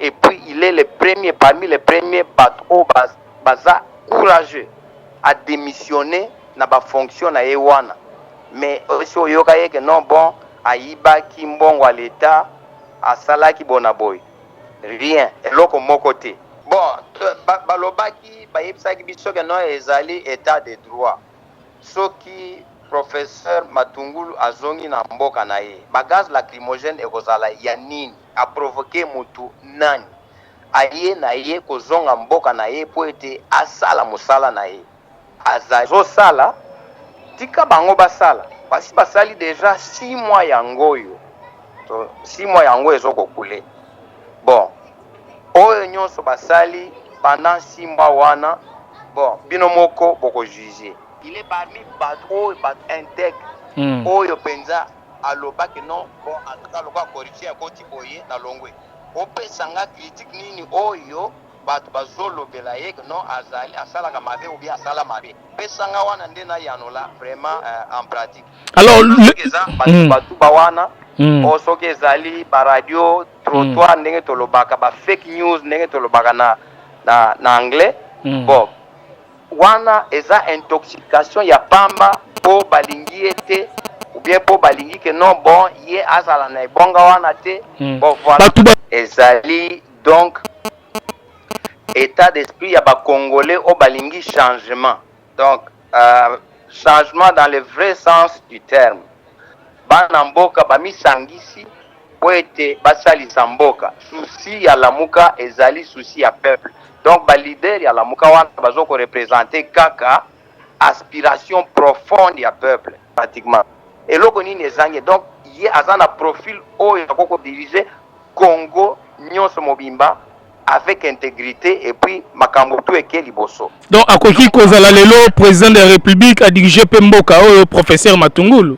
et puis il est le premier parmi les premiers batu oyo ba, baza courageux a demissionner na ba fonction na ye wana mais osi oyoka ye ke non bon ayibaki mbongo ya leta asalaki bona boye rien eloko moko te bon ba, balobaki bayebisaki biso ke non ezali etat de droit soki professeur matungulu azongi na mboka na ye ba gaz lacrymogène ekozala ya nini A provoquer mutu nani? Aye na ye kozonga mboka na ye mpo ete asala mosala na ye. Azo sala, tika bango basala. Basi basali dejà six mois yango oyo to six mois yango oyo ezo ko couler. Bon, oyo nionso basali pendant six mois wana, bon bino moko boko juger. Il est parmi batu oyo batu integres oyo penza. aloba que non bon en tout cas lokola corruption ya koti boye na longwe opesa nga critique nini oyo bato bazolobela ye que non azali asalaka mabe ou bien asala mabe pesa nga wana nde nayanola vraiment euh, en pratique alors eza hmm. batuba wana hmm. o soki ezali baradio trottoir hmm. ndenge tolobaka ba fake news ndenge tolobaka na, na, na anglais bon Wana eza intoxication ya pamba po balingi ye te ou bien po balingi que non bon ye azala na ebonga wana te bon voila. Ezali donc etat d'esprit ya ba congolais oyo balingi changement donc changement dans le vrai sens du terme bana mboka bamisangisi. mpo ete basalisa mboka. Souci ya lamuka ezali souci ya peuple donc ba leader ya lamuka wana bazo ko representer kaka aspiration profonde ya peuple pratiquement eloko nini ezangi donc ye aza na profil oyo akoki ko diriger Congo nionso mobimba avec integrite et puis makambo tout eke liboso. Donc akoki kozala lelo president de la republique a diriger mpe mboka oyo professeur Matungulu?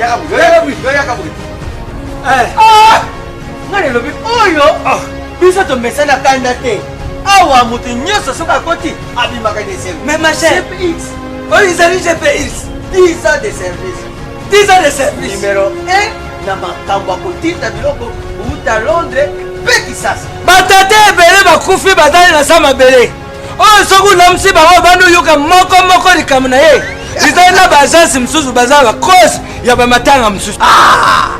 Yaka boye, yaka boye, yaka boye. Eh. Ah! Nga nelobi oyo ah. biso tomesana kanda te. Awa moto nyonso soki akoti abimaka na esengo. Mais ma chère, oyo ezali GPX 10 ans de service. 10 ans de service. Numéro 1 na makambo ya kotinda biloko uta Londres mpe Kisasa. Batata ebele bakufi bazali na sa mabele. oyo soki olamisi bango obandi oyoka moko moko likambo na ye ezali na baagence mosusu baza bacause ya bamatanga mosusu ah!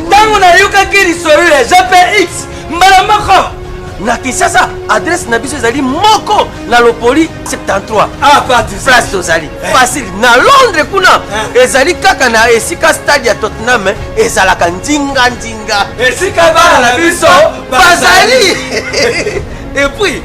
ntango nayokaki lisolo ya jpx mbala moko na kinshasa adresse na biso ezali moko na lopoli 73 ah, place tozali eh. facile na londres kuna eh. ezali kaka na esika stade ya tottenham eh, ezalaka ndinga ndinga esika bana na biso bazali epuis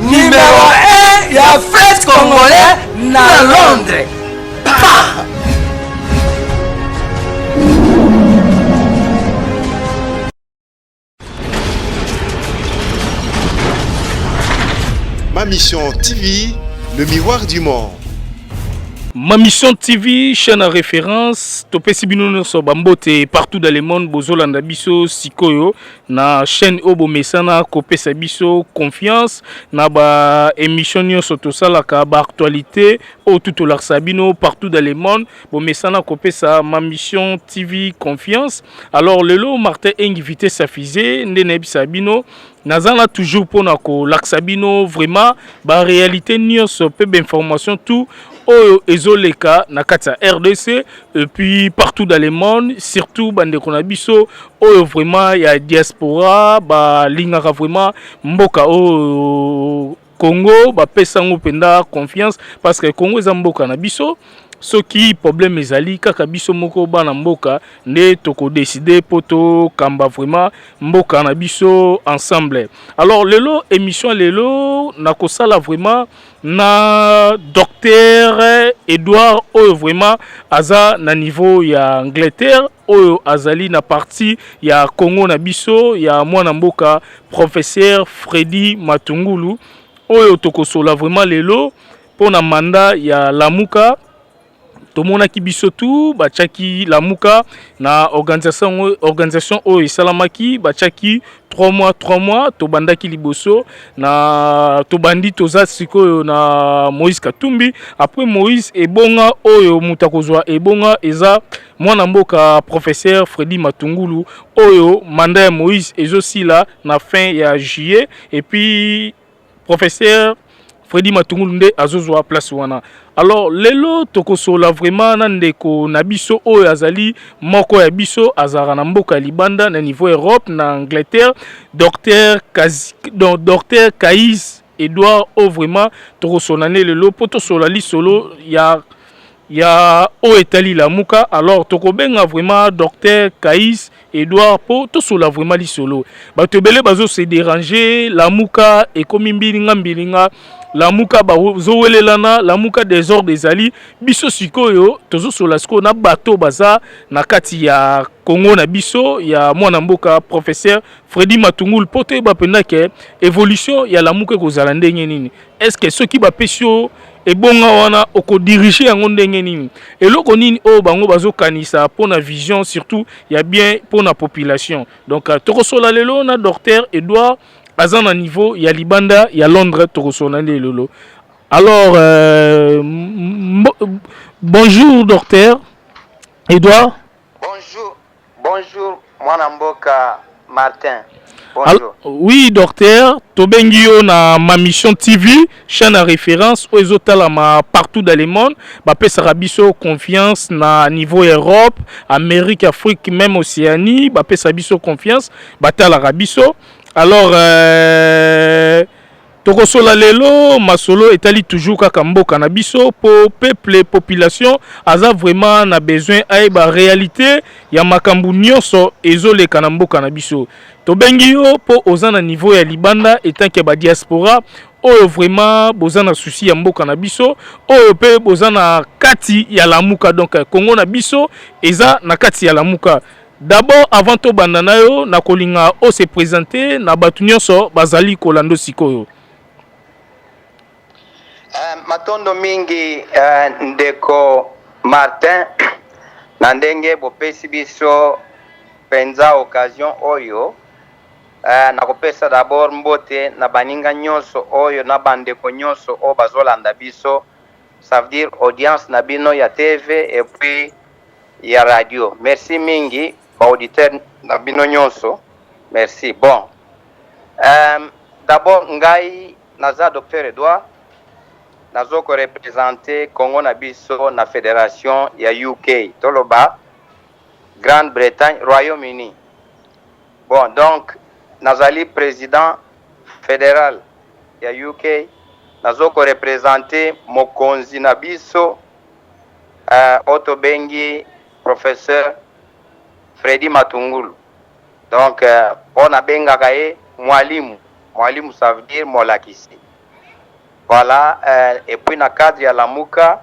Numero 1 ya fete congolais na Londres. Pa! Ma Mission TV, le miroir du monde. Ma Mission TV, chaîne à référence, topesi bino nyonso bambote partout dans le monde bozolanda biso sikoyo na chaîne oyo bomesana kopesa biso confiance na ba émission nyonso tosalaka ba actualité oyo tu tolakisa bino partout dans le monde bomesana kopesa ma mission tv confiance alors lelo martin engi vitesse afise nde nayebisa bino naza na toujours mpona kolakisa bino vraiment ba réalité nyonso mpe bainformation tout oyo ezoleka na kati ya rdc et puis partout dans le monde surtout bandeko na biso oyo vraiment ya diaspora balingaka vraiment mboka oyo congo bapesa yango mpenza confiance parce que congo eza mboka na biso soki problème ezali kaka biso moko bana mboka nde tokodeside mpo tokamba vraiment mboka na biso ensemble alors lelo émission lelo nakosala vraiment na docteur Edouard oyo vraiment aza na niveau ya Angleterre oyo azali na parti ya Congo na biso ya mwana mboka professeur Freddy Matungulu oyo tokosola vraiment lelo mpo na manda ya Lamuka tomonaki biso tu batiaki lamuka na organisation organisation oyo esalamaki batiaki 3 mois 3 mois tobandaki liboso na tobandi toza sikoyo na moïse katumbi après moïse ebonga oyo moto akozwa ebonga eza mwana mboka professeur fredi matungulu oyo manda ya moïse ezosila na fin ya juillet epuis professeur Freddy Matungulu nde azozwa place wana alors lelo tokosola vraiment na ndeko na biso oyo azali moko ya biso azalaka na mboka ya libanda na niveau Europe na Angleterre docteur Kaz... docteur Kais Edouard oyo vraiment tokosola nde lelo mpo tosola lisolo ya ya oyo etali lamuka alors tokobenga vraiment docteur kais edouard mpo tosola vraiment lisolo bato ebele bazo se déranger lamuka ekomi mbilinga mbilinga lamuka bazowelelana lamuka desordre ezali biso sikoyo tozosola sikoyo na bato baza na kati ya kongo na biso ya mwana mboka professeur fredi matungulu mpo toyeba mpenza ke evolution ya lamuka ekozala ndenge nini Est-ce que soki ba pesi yo ebonga wana oko diriger yango ndenge nini? Eloko nini oyo bango bazo kanisa pona vision surtout ya bien pona population. Donc euh, toko sola lelo na docteur Edouard aza na niveau ya libanda ya Londres toko sola lelo. Alors euh, bonjour docteur Edouard. Bonjour. Bonjour mwana mboka Martin. Bonjour. Oui docteur, tobengi yo na ma mission TV, chaîne à référence oyo ezotalama partout dans le monde, bapesaka biso confiance na niveau Europe, Amérique, Afrique, même Océanie, bapesa biso confiance, batalaka biso. Alors euh, Tokosola lelo masolo etali toujours kaka mboka na biso po peuple population aza vraiment na besoin ayeba realite ya makambo nyonso ezoleka na mboka na biso. Tobengi yo po oza na niveau ya libanda etant que ba diaspora oyo vraiment boza na souci ya mboka na biso oyo pe boza na kati ya lamuka donc Congo na biso eza na kati ya lamuka. D'abord avant to banda nayo na kolinga o se presenter na batu nyonso bazali kolando sikoyo. Uh, matondo mingi uh, ndeko Martin na ndenge bopesi biso penza occasion oyo uh, na kopesa d'abord mbote na baninga nyonso oyo na bandeko nyonso oyo bazolanda biso Ça veut dire audience na bino ya TV et puis ya radio. Merci mingi ba auditeurs na bino nyonso. Merci. Bon. Euh, d'abord ngai naza docteur Edouard nazo ko representer Congo na biso na federation ya UK. Toloba Grande-Bretagne, Royaume-Uni. Bon, donc nazali président fédéral ya UK nazo ko represente mokonzi na biso uh, oyo tobengi professeur Freddy Matungulu donc uh, oyo nabengaka ye mwalimu mwalimu ça veut dire molakisi voilà uh, et puis na cadre ya lamuka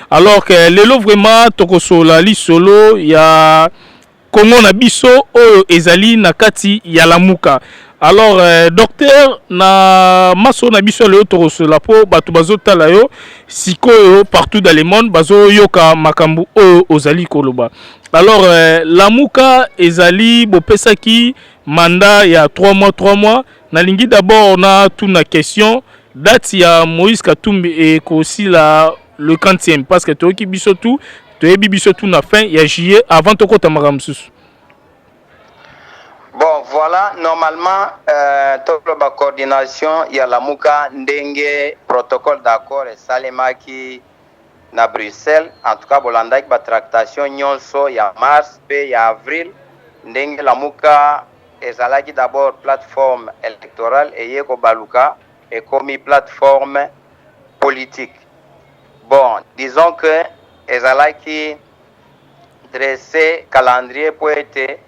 Alors que lelo vraiment tokosola lisolo ya Congo na biso oyo ezali na kati ya lamuka. Alors euh, docteur na maso na biso lelo tokosola po bato bazotala yo sikoyo partout dans le monde bazoyoka makambo oyo ozali koloba. Alors euh, lamuka ezali bopesaki mandat ya 3 mois 3 mois nalingi d'abord na tuna question date ya Moïse Katumbi ekosila le 30e parce que toyoki biso tout toyebi biso tout na fin ya juillet avant tokota makambo mosusu bon voilà normalement euh, toloba coordination ya lamuka ndenge protocole d'accord esalemaki na bruxelles en tout cas bolandaki batractation nyonso ya mars mpe ya avril ndenge lamuka ezalaki d'abord plateforme électorale eye kobaluka Ekomi plate forme politique bon disons que ezalaki dresse calendrier po ete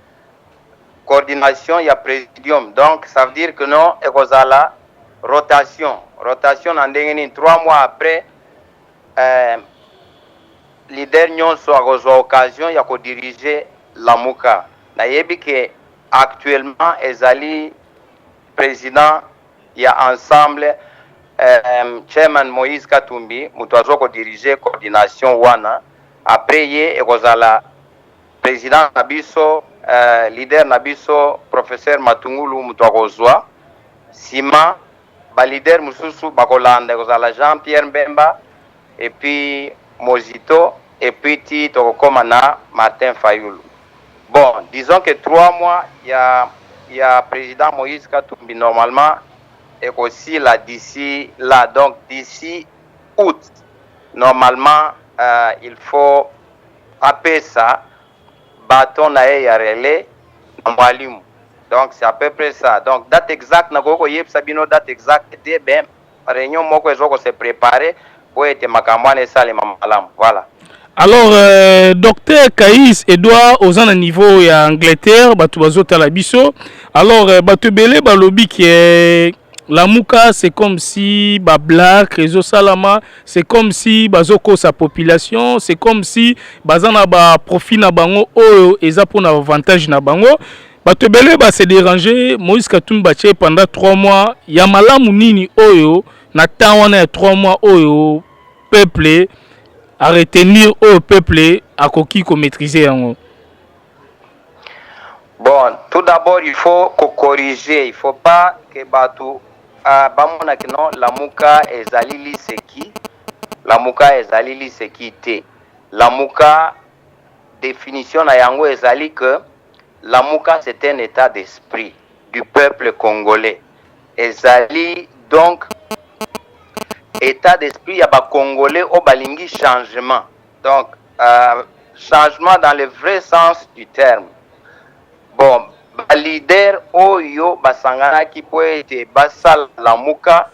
coordination ya presidium donc ça veut dire que non ekozala rotation rotation na ndenge nini trois mois après euh, leader nyonso akozwa occasion ya kodirige lamuka nayebi ke actuellement ezali président ya ensemble eeh chairman Moïse katumbi mutu azo ko diriger coordination wana après ye ekozala president na biso eeh leader na biso professeur matungulu mutu akozua sima ba leader mususu bakolanda ekozala jean Pierre mbemba et puis Mozito et puis ti tokokoma na Martin Fayulu. Bon, disons que trois mois ya ya president Moïse Katumbi normalement ekosila d'ici là, donc d'ici août normalement euh, il faut apesa baton na ye ya relais na mwalimu donc c'est à peu près ça donc date exacte nakoki koyebisa bino date exacte te mais reunion moko ezo ko se preparer po ete makambo wana esalema malamu voilà Alors, euh, docteur Kaïs Edouard, aux un niveau ya Angleterre, batu bazo talabiso. Alors, euh, batu belé balobi que euh, la mouka c'est comme si ba black réseau salama, c'est comme si bazo ko sa population, c'est comme si bazana ba profit na bango oyo eza pona avantage na bango. Bato ebele ba se deranger Moïse Katumbi batie pendant 3 mois ya malamu nini oyo na temps wana ya 3 mois oyo peuple a retenir oyo peuple akoki ko maîtriser yango. Bon, tout d'abord il faut ko corriger, il faut pas que bato uh, bamona que non lamuka ezali liseki, lamuka ezali liseki te. Lamuka definition na yango ezali que Lamuka c'est un etat d'esprit du peuple congolais ezali donc etat d'esprit ya ba congolais oyo balingi changement donc changement dans le vrai sens du terme bon ba leader oyo basanganaki po ete basala lamuka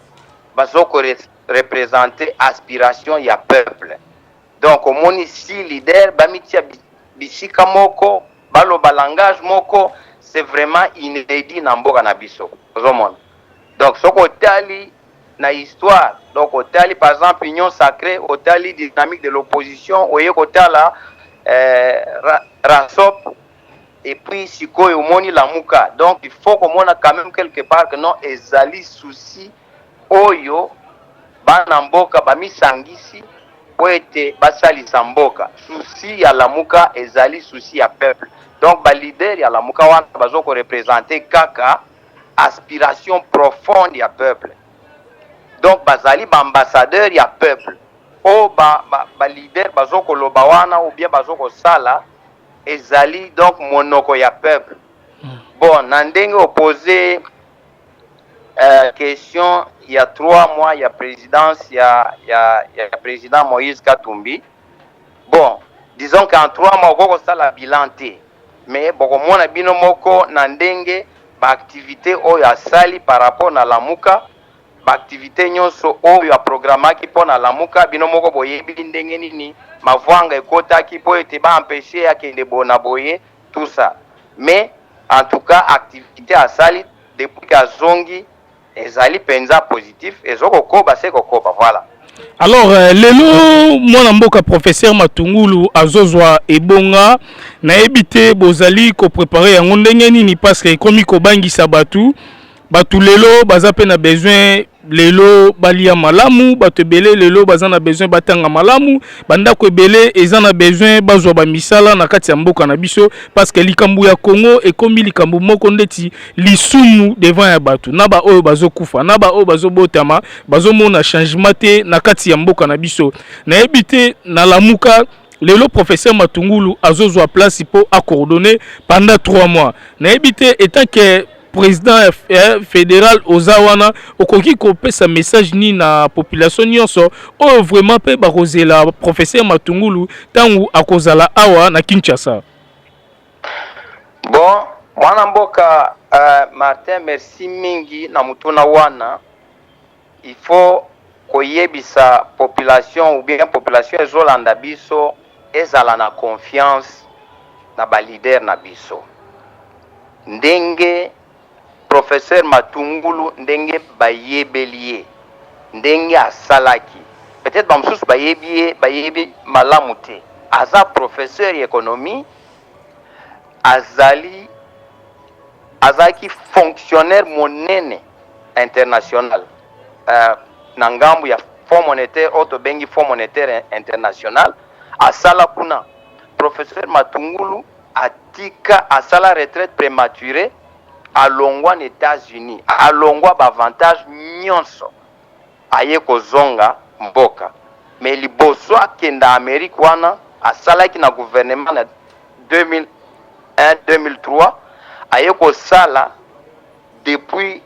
bazo ko representer aspiration ya peuple Donc omoni six leaders bamitia bisika moko baloba langage moko c'est vraiment inedit na mboka na biso ozomona donc soki otali na histoire donc otali par exemple union sacrée otali dynamique de l'opposition oye kotala eh, ra, rasop et puis sikoyo omoni lamuka donc il faut komona quand même quelque part que non ezali souci oyo bana mboka bamisangisi po ete basalisa mboka souci ya lamuka ezali souci ya peuple donc ba leader ya lamuka wana bazo ko represente kaka aspiration profonde ya peuple donc bazali ba ambassadeur ya peuple oyo ba, ba, ba leader bazo koloba wana ou bien bazo kosala ezali donc monoko ya peuple bon na ndenge opose eh, question ya 3 mois ya presidence ya, ya, ya president Moïse Katumbi bon disons qu'en 3 mois okoki kosala bilan te mais bokomona bino moko na ndenge baaktivité oyo asali par rapport na lamuka baaktivité nyonso oyo aprogramaki mpo na lamuka bino moko boyebi ndenge nini mavwanga ekotaki mpo ete baempeshe akende bona boye tout ça mais en tout cas activite asali depuis que azongi ezali penza positif ezo kokoba se kokoba voilà alors euh, lelo mwana mboka professeur matungulu azozwa ebonga nayebi te bozali koprepare yango ndenge nini parce que ekomi kobangisa bato bato lelo baza mpe na besoin lelo balia malamu bato ebele lelo baza na besoin batanga malamu bandako ebele eza na besoin bazwa bamisala na kati ya mboka na biso parce que likambo ya congo ekomi likambo moko ndeti lisumu devant ya bato na baoyo bazokufa na baoyo bazobotama bazomona changement te na kati ya mboka na biso nayebi te na lamuka lelo professeur matungulu azozwa place mpo akoordonne pendant 3 mois nayebi te etant que president ya eh, federal oza wana okoki kopesa message nini na population nyonso oyo vraiment mpe bakozela professeur matungulu ntango akozala awa na kinshasa bon mwana mboka uh, martin merci mingi na motuna wana Il faut koyebisa population ou bien population ezolanda biso ezala na confiance na ba leader na biso. Ndenge professeur Matungulu ndenge bayebeli ye, ndenge asalaki, peut-etre ba mosusu bayebi ye bayebi malamu te. Aza professeur ya economie, azali azalaki fonctionnaire monene international uh, na ngambu ya Fonds monétaire oyo tobengi Fonds monétaire international asala kuna professeur Matungulu atika asala retraite prématurée alongwa na États-Unis alongwa baavantage nyonso aye kozonga mboka me liboso akenda Amérique wana asalaki na gouvernement na 2001 2003 aye kosala Depuis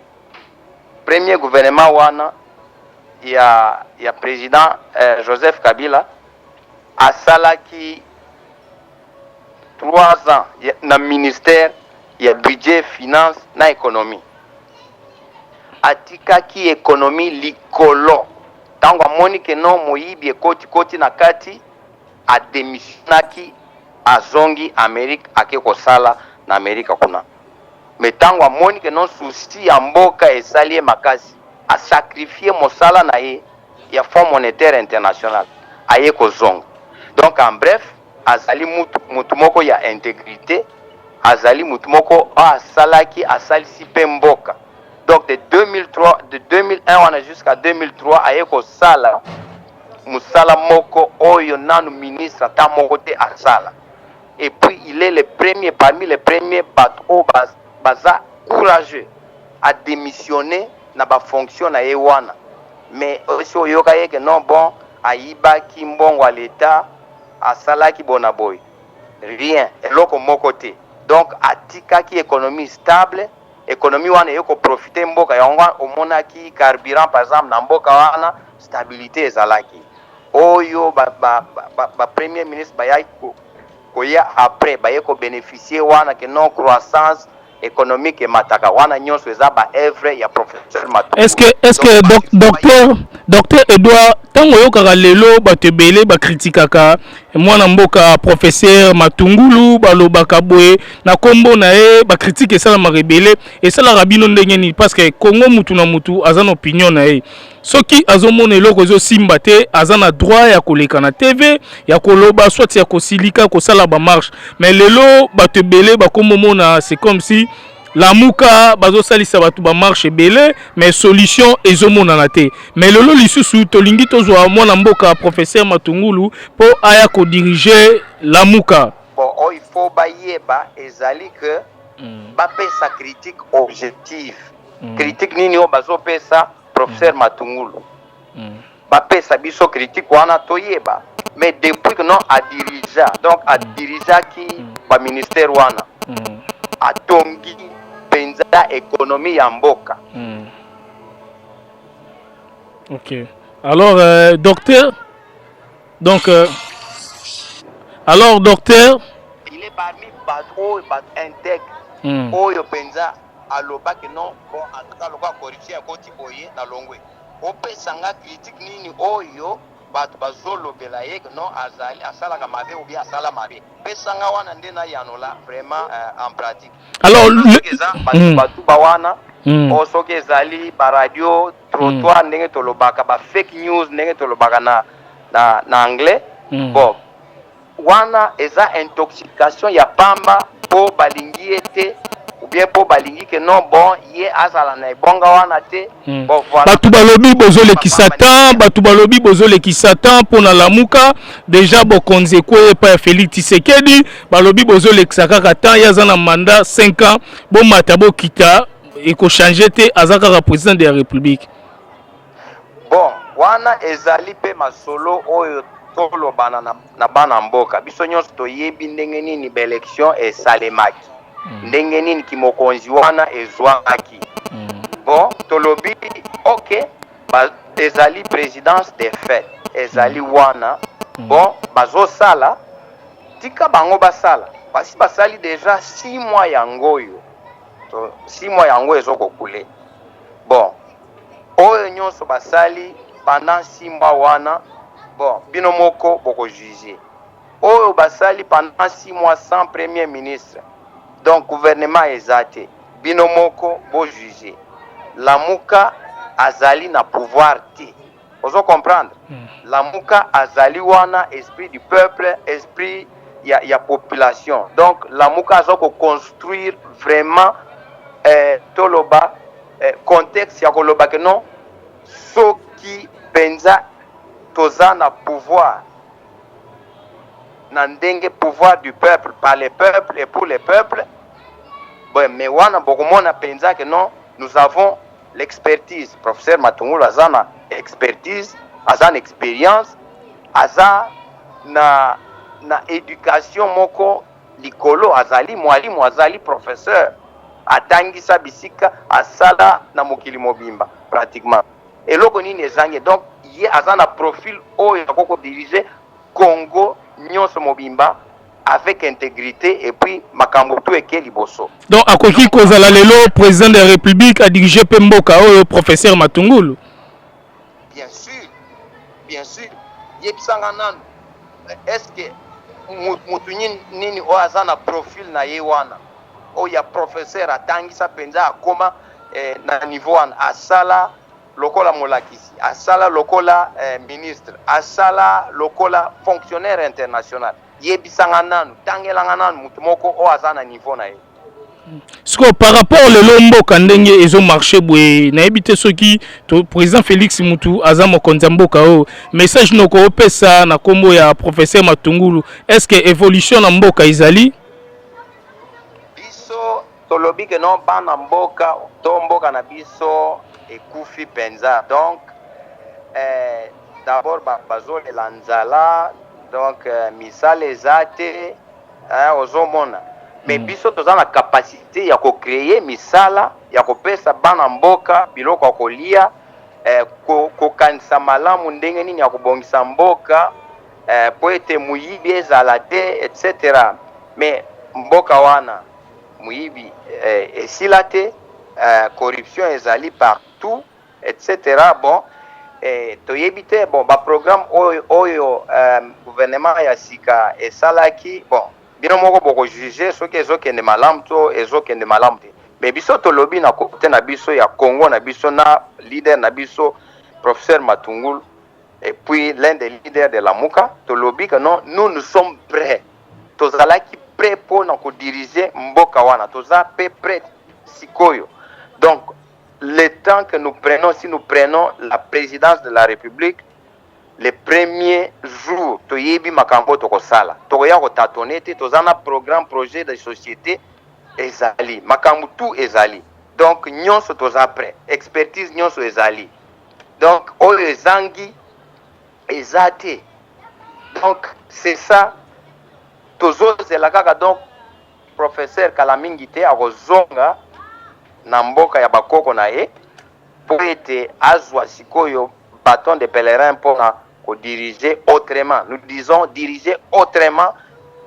premier gouvernement wana ya, ya president eh, Joseph Kabila asalaki 3 ans na ministère ya budget, finance na economie. Atikaki economie likolo ntango amoni ke no moyibi ekoti koti na kati, ademisionaki azongi Amerique ake kosala na Amerika kuna. mais tango amoni que non souci ya mboka esali ye makasi a sacrifier mosala na ye ya Fonds monetaire international aye kozonga donc en bref azali mutu mutu moko ya integrite azali mutu moko oyo asalaki asalisi pe mboka donc de 2003 de 2001 wana jusqu'à 2003 aye kosala musala moko oyo nanu ministre ata moko te asala et puis il est le premier parmi les premiers bato oyo ba, baza courageux a démissionner na ba fonction na ye wana mais esi oyoka ye ke non bon ayibaki mbongo ya leta asalaki bona boye rien eloko moko te donc atikaki économie stable économie wana eye koprofite mboka yango omonaki carburant par exemple na mboka wana stabilité ezalaki oyo ba ba ba, ba premier ministre bayaki ko koya après baye ko beneficier wana que non croissance économique emataka wana nyonso eza ba œuvre ya professeur Matumbu. Est-ce que est-ce que doc, docteur docteur Edouard tango yokaka lelo bato ebele ba critiquaka mwana mboka professeur Matungulu balobaka boye na kombo na ye ba critique esalamaka ebele esalaka bino ndenge nini parce que Congo mutu na mutu aza na opinion na ye soki azomona eloko ezosimba te aza na droit ya koleka na tv ya koloba soit ya kosilika kosala bamarche mais lelo bato ebele bakomomona c'est comme si lamuka bazosalisa bato bamarche ebele mais solution ezomonana te mais lelo lisusu tolingi tozwa mwana mboka professeur matungulu mpo aya kodirige lamuka bon oyo oh, il faut bayeba ezali que mm. bapesa critique objective mm. critique nini oyo bazopesa professeur matungulu bapesa biso critique wana toyeba mais depuis que non adirigea donc adirigeaki baministère wana atongi mpenza ekonomi ya mboka mm. ok alors euh, docteur donc euh, alors docteur il est parmi bato oyo bato intègre mm. oyo mpenza aloba que non bon en tout cas lokola corruption ya koti boye na longwe opesa nga critique nini oyo bato bazolobela ye que non azali asalaka mabe ou bien asala mabe pesa nga wana nde nayanola vraiment euh, en pratique alors eza hmm. batuba wana hmm. o soki ezali baradio trottoir hmm. ndenge tolobaka ba fake news ndenge tolobaka na, na, na anglais bon Wana eza intoxication ya pamba po balingi ye te ou bien po balingi que non bon ye azala na ebonga wana te hmm. bon voilà. Batu balobi bozo lekisa temps, batu balobi bozo lekisa temps po na lamuka déjà bokonzi ekweyi epai ya Felix Tshisekedi, balobi bozo lekisa kaka temps, ye aza na mandat 5 ans, bomata bokita ekochange te, aza kaka president de la République. Bon wana ezali pe masolo oyo tolobana na, na bana mboka. Biso nyonso toyebi ndenge nini ba election esalemaki, mm. ndenge nini kimokonzi wana ezwamaki. Mm. Bon tolobi ok ba, ezali presidence de fait ezali mm. wana mm. bon bazosala tika bango basala basi basali deja six mois yango oyo six mois yango ezokokule bon Oyo nionso basali pendant six mois wana bon bino moko boko juger. Oyo basali pendant six mois sans premier ministre donc gouvernement eza te bino moko bo juger. Lamuka azali na pouvoir te. ozo comprendre mm. lamuka azali wana esprit du peuple esprit ya, ya population donc lamuka aza koconstruire vraiment eh, toloba eh, contexte ya koloba ke non soki mpenza toza na pouvoir na ndenge pouvoir du peuple par les peuples et pour les peuples bon, mais wana bokomona mpenza ke non nous avons L'expertise, professeur Matungulu aza na expertise, aza na experience, aza na na education moko likolo, azali mwalimu, azali professeur, atangisa bisika, asala na mokili mobimba pratiquement. Eloko nini ezangi? Donc ye aza na profil oyo akoki ko diriger Congo nionso mobimba avec integrite et puis makambo tout eke liboso. Donc akoki kozala lelo president de la republique a diriger pe mboka oyo professeur Matungulu. Bien sûr, bien sûr. Yebisanga nanu est-ce que mutu nini oyo aza na profil na ye wana oyo ya professeur atangisa mpenza akoma eh, na niveau wana asala lokola molakisi, asala lokola eh, ministre, asala lokola fonctionnaire international. Yebisanga nanu, tangelanga nanu moto moko oyo aza na niveau na ye. sikoyo par rapport lelo mboka ndenge ezo marche boye nayebi te soki président félix mutu aza mokonzi ya mboka oyo message noko opesa na nkombo ya professeur matungulu est ce que évolution na mboka ezali Tolobi que non bana mboka to mboka na biso ekufi penza donc eh, d'abord bazolela ba nzala donc eh, misala eza te eh, ozomona me mm. biso toza na kapasite ya kocreye misala ya kopesa bana mboka biloko ya kolia eh, kokanisa ko malamu ndenge nini ya kobongisa mboka eh, mpo ete moyibi ezala te etc me mboka wana Moyibi eh, esila te eh, corruption ezali partout etc. Bon eh, toyebi te bon ba programme oyo, oyo eh, gouvernement ya sika esalaki bon bino moko boko juger soki ezokende malamu to ezokende malamu te mais biso tolobi na kote na biso ya Congo na biso na leader na biso professeur Matungulu et puis l'un des leaders de la Muka tolobi que non nous nous sommes prêts tozalaki prêt mpo na kodiriger mboka wana toza mpe prêt sikoyo donc le temps que nous prenons si nous prenons la présidence de la république le premier jour toyebi makambo tokosala tokoya kotatone te toza na programme projet de société ezali makambo tout ezali donc nyonso toza prêt expertise nyonso ezali donc oyo ezangi eza te donc c'est ça tozozela kaka donc professeur kala mingi te akozonga na mboka ya bakoko na ye mpo ete azwa sikoyo baton de pèlerin mpona kodirige autrement nous disons dirige autrement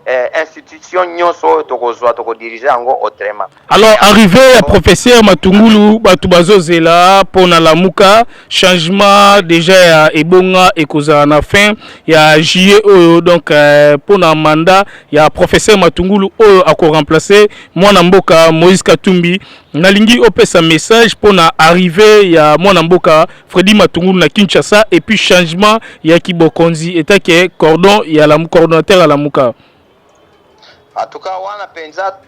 eh, institution nyonso oyo tokozwa tokodirige yango autrement alors arrivé ya professeur matungulu bato bazozela mpo na lamuka changement déjà ya ebonga ekozala na fin ya juillet oyo donc eh, mpo na mandat ya professeur matungulu oyo akoremplace mwana mboka moïse katumbi nalingi opesa message mpo na arrivé ya mwana mboka Freddy Matungulu na Kinshasa et puis changement ya kibokonzi etat que cordon ya la coordonnateur ya lamuka en tout cas wana penza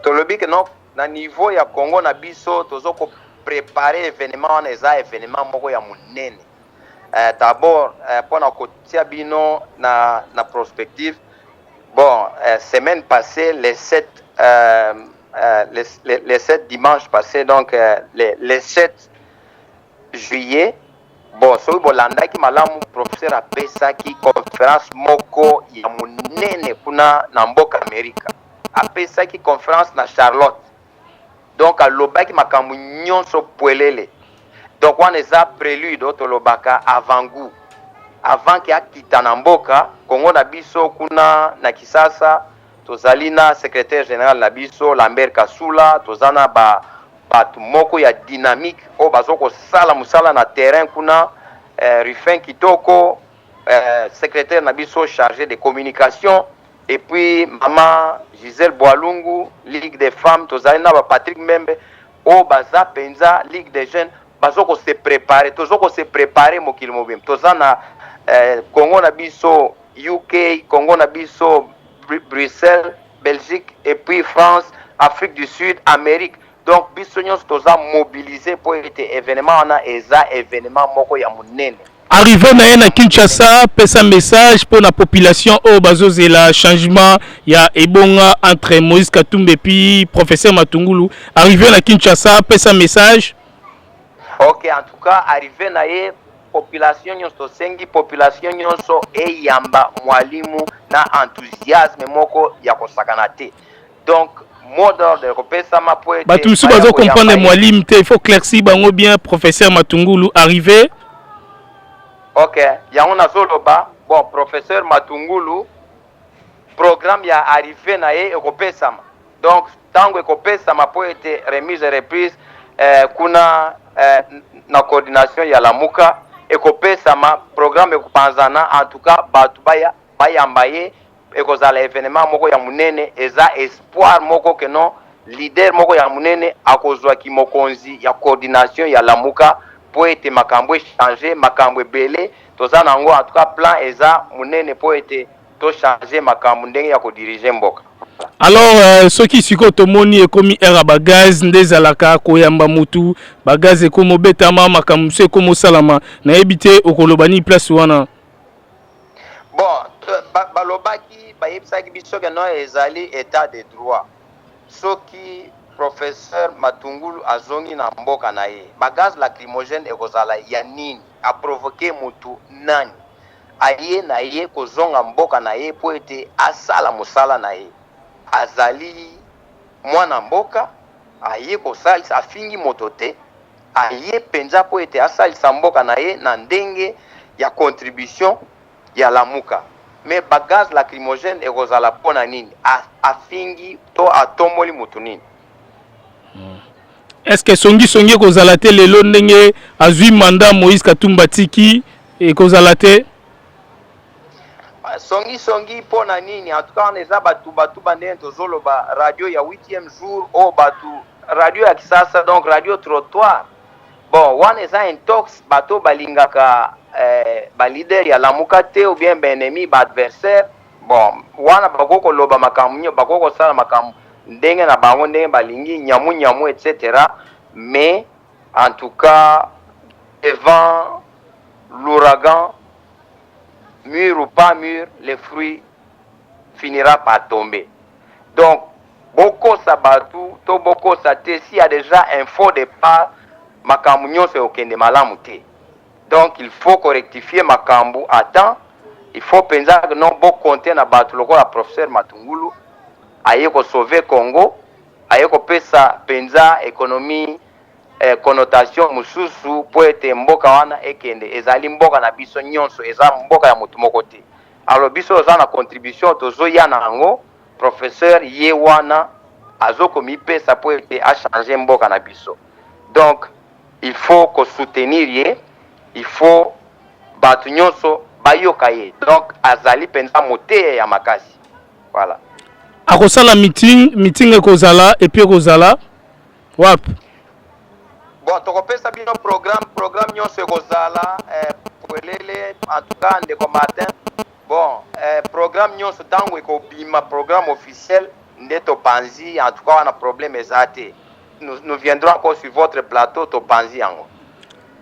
tolobi que non na niveau ya Congo na biso tozo ko préparer événement wana eza événement moko ya munene eh, d'abord eh, pona kotia bino na na prospective bon eh, semaine passée les 7 euh, euh, les, les, les 7 dimanche passé donc euh, les, les 7 juillet bon soki bolandaki malamu professeur apesaki conference moko ya monene kuna na mboka amerika apesaki conference na charlotte donc alobaki makambo nyonso pwelele donc wana eza prelude oyo tolobaka avant gout avant ke akita na mboka kongo na biso kuna na kisasa Tozali na Secretaire general na biso Lambert Kasula, toza na ba batu moko ya dynamique oyo bazo kosala musala na terrain kuna, eh, Ruffin Kitoko, eh, Secretaire na biso charge de communication, et puis Mama Giselle Boalungu, Ligue des femmes, tozali na ba Patrick Mbembe, Oyo baza penza ligue des jeunes bazo ko se preparer tozo ko se preparer mokili mobimba toza na eh, Congo na biso UK Congo na biso Bruxelles Belgique et puis France Afrique du Sud Amérique donc biso nyonso toza mobiliser mpo ete evenement wana eza evenement moko ya monene Arrivé na ye na Kinshasa pesa message pour la population oyo oh, bazozela changement ya ebonga entre Moïse Katumbi puis professeur Matungulu arrivé na Kinshasa pesa message Ok en tout cas arrivé na ye population nyonso sengi population nyonso eyamba mwalimu na enthousiasme moko ya kosakana te Donc mot d'ordre ekopesama po ete bato mosusu bazo comprendre mwalim te, il faut claircir bango bien. Professeur Matungulu arrive. Ok, yango nazoloba bon, professeur Matungulu programme ya arrive na ye ekopesama, donc ntango ekopesama po ete remise et reprise eh, kuna eh, na coordination ya Lamuka ekopesama programme ekopanzana, en tout cas bato baya bayamba ye ekozala evenement moko ya munene eza espoir moko que non leader moko ya munene akozua ki mokonzi ya coordination ya lamuka po ete makambo e changer makambo ebele toza na yango en tout cas plan eza munene po ete to changer makambo ndenge ya ko diriger mboka alors euh, soki sikoyo tomoni ekomi heure ya bagaz nde ezalaka koyamba mutu bagaz ekomi obetama makambo mosusu ekomi osalama nayebi te okoloba nini place wana Bon, balobaki bayebisaki biso que non ezali etat de droit. Soki professeur Matungulu azongi na mboka na ye, ba gaz lacrymogène ekozala ya nini? A provoquer mutu nani? Aye na ye kozonga mboka na ye mpo ete asala mosala na ye. Azali mwana mboka, aye kosalisa, afingi moto te. Aye penza mpo ete asalisa mboka na ye na ndenge ya contribution ya Lamuka. Mais ba gaz lacrymogène ekozala mpo na nini? Afingi to atomboli mutu nini? Est-ce que songi songi ekozala te lelo ndenge azui mandat Moïse Katumbi atiki ekozala te? songi songi mpo na nini? En tout cas wana eza ba tuba tuba ndenge tozoloba radio ya huitième jour oyo batu radio ya kisasa donc radio trottoir bon wana eza intox bato balingaka eh, balider ya lamuka te ou bien baennemi baadversaire bon wana bakoki koloba makambo nyo bakoki kosala makambo ndenge na bango ndenge balingi nyamu nyamu etc mais en tout cas devant l'ouragan mur ou pas mur le fruit finira par tomber donc Bokosa batu to bokosa te si ya dejà info de part makambu nionso ekokende malamu te donc il faut ko rectifier makambu à temps il faut penza que non bo compter na batu lokola professeur Matungulu aye ko sauver Congo aye ko pesa penza economie eh, connotation mususu po ete mboka wana ekende ezali mboka na biso nionso eza mboka ya mutu moko te alors biso oza na contribution tozo ya na yango Professeur ye wana azo komipesa po ete a changer mboka na biso donc il faut ko soutenir ye il faut batu nionso bayoka ye donc azali penza moteya ya makasi voilà. Akosala meeting, meeting ekozala epuis ekozala wapi? Bon, tokopesa bino programme, programme nionso ekozala eh, polele en tout cas ndeko Martin Bon eh, programme nyonso tango ekobima programme officiel nde topanzi en tout cas wana problème eza te nous, nous viendrons encore sur votre plateau topanzi yango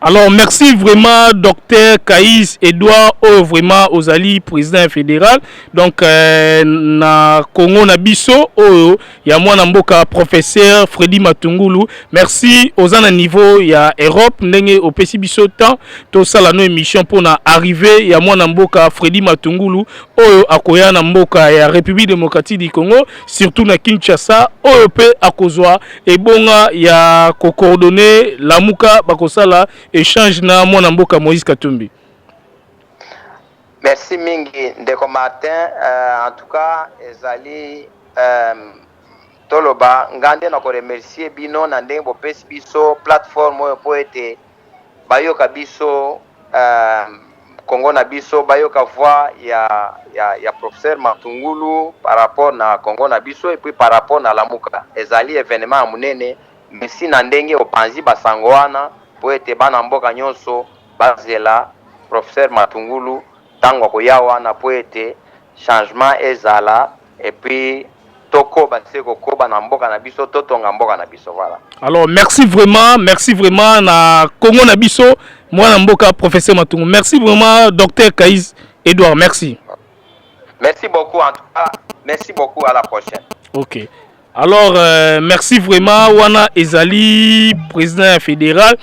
alors merci vraiment docteur Kaïs Edouard oyo oh, vraiment ozali président fédéral donc euh, na Congo na biso oyo oh, ya mwana mboka professeur Freddy Matungulu merci oza na niveau ya Europe ndenge opesi biso temps tosala no émission mpo na arrivée ya mwana mboka Freddy Matungulu oyo akoya na mboka ya République démocratique du Congo surtout na Kinshasa oyo mpe akozwa ebonga ya kocoordonner Lamuka bakosala échange na mwana mboka Moïse Katumbi Merci mingi ndeko Martin uh, en tout cas ezali um, toloba nga nde na koremercie bino na ndenge bopesi biso plateforme oyo mpo ete bayoka biso uh, kongo na biso bayoka voix ya, ya, ya professeur matungulu par rapport na kongo na biso epuis par rapport na lamuka ezali evenement ya monene merci na ndenge opanzi basango wana mpo ete bana mboka nyonso Bazela professeur Matungulu tango akoya wana po ete changement ezala et puis tokoba se kokoba na mboka na biso totonga mboka na biso voilà. Alors merci vraiment, merci vraiment na Congo na biso mwana mboka professeur Matungu. Merci vraiment docteur Kaiz Edouard, merci. Merci beaucoup en tout cas, merci beaucoup à la prochaine. OK. Alors euh, merci vraiment wana ezali président ya fédéral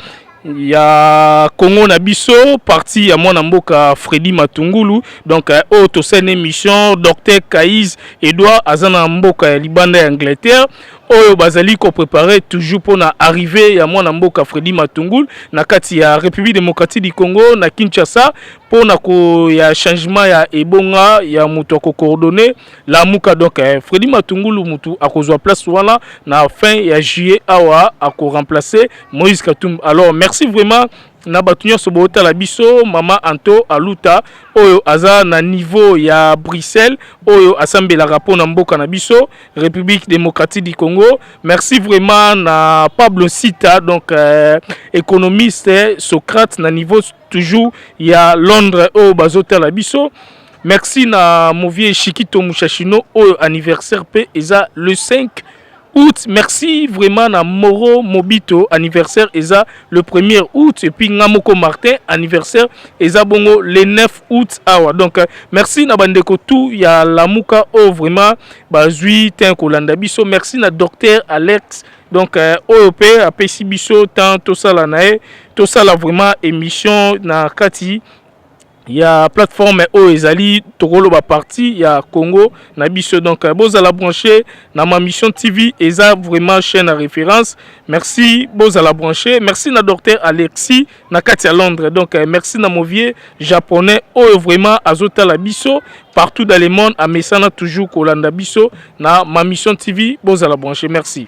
ya Congo na biso parti ya mwana mboka Freddy Matungulu donc euh, oyo tosala une émission docteur Kaiz Edouard aza na mboka ya libanda ya Angleterre oyo bazali ko préparer toujours pona arrivée ya mwana mboka Freddy Matungulu na kati ya République démocratique du Congo na Kinshasa pona ko ya changement ya ebonga ya moto ko coordonner Lamuka donc eh, Freddy Matungulu mutu akozwa place wana na fin ya juillet awa ako remplacer Moïse Katumbi. Alors merci vraiment na bato nyonso bootala biso mama anto aluta oyo aza na niveau ya bruxelles oyo asambelaka mpo na mboka na biso république démocratique du congo merci vraiment na pablo sita donc euh, économiste socrate na niveau toujours ya londres oyo bazotala biso Merci na Movie Shikito Mushashino oyo anniversaire pe eza le 5 août. Merci vraiment na Moro Mobito anniversaire eza le 1er août et puis Ngamoko Martin anniversaire eza bongo le 9 août awa. Donc euh, merci na bandeko tout ya Lamuka oyo vraiment bazui ten kolanda biso. Merci na docteur Alex donc euh, oyo pe apesi biso temps tosala na ye tosala vraiment émission na kati ya plateforme oyo ezali tokoloba parti ya Congo na biso donc euh, bozala branché na ma mission TV eza vraiment chaîne à référence merci bozala branché merci na docteur Alexis na kati ya Londres donc euh, merci na movie japonais oyo vraiment azotala biso partout dans le monde amesana toujours kolanda biso na ma mission TV bozala branché merci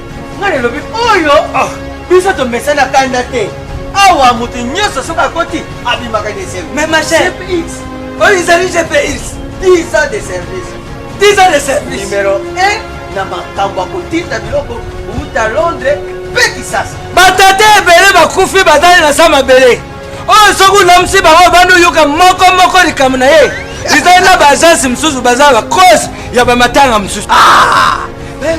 nga nelobi oyo ah. biso tomesana kanda te awa moto nyonso soki akoti abimaka na esengo mais ma chère oyo ezali gpx 10 ans de service 10 ans de service numero 1 na makambo ya kotinda biloko kouta londres mpe kisasa batata ebele bakufi bazali na sa mabele oyo soki olamisi bango obandi oyoka moko moko likambo na ye ezali na baagence mosusu baza bacause ya bamatanga mosusu ah!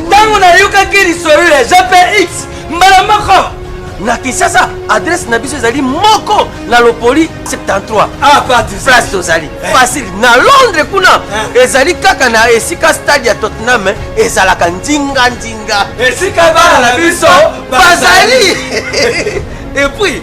ntango nayokaki lisolo ya jpx mbala moko na kinshasa adresse na biso ezali moko na lopoli 73 ah, place tozali eh. facile na londres kuna eh. ezali kaka na esika stade ya tottenham eh, ezalaka ndinga ndinga esika bana na biso bazali epuis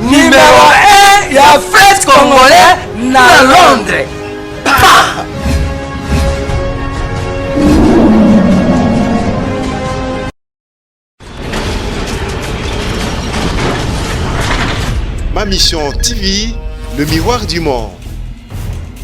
Numero 1 ya fete congolais na Londres. Pa! Ma Mission TV, le miroir du monde.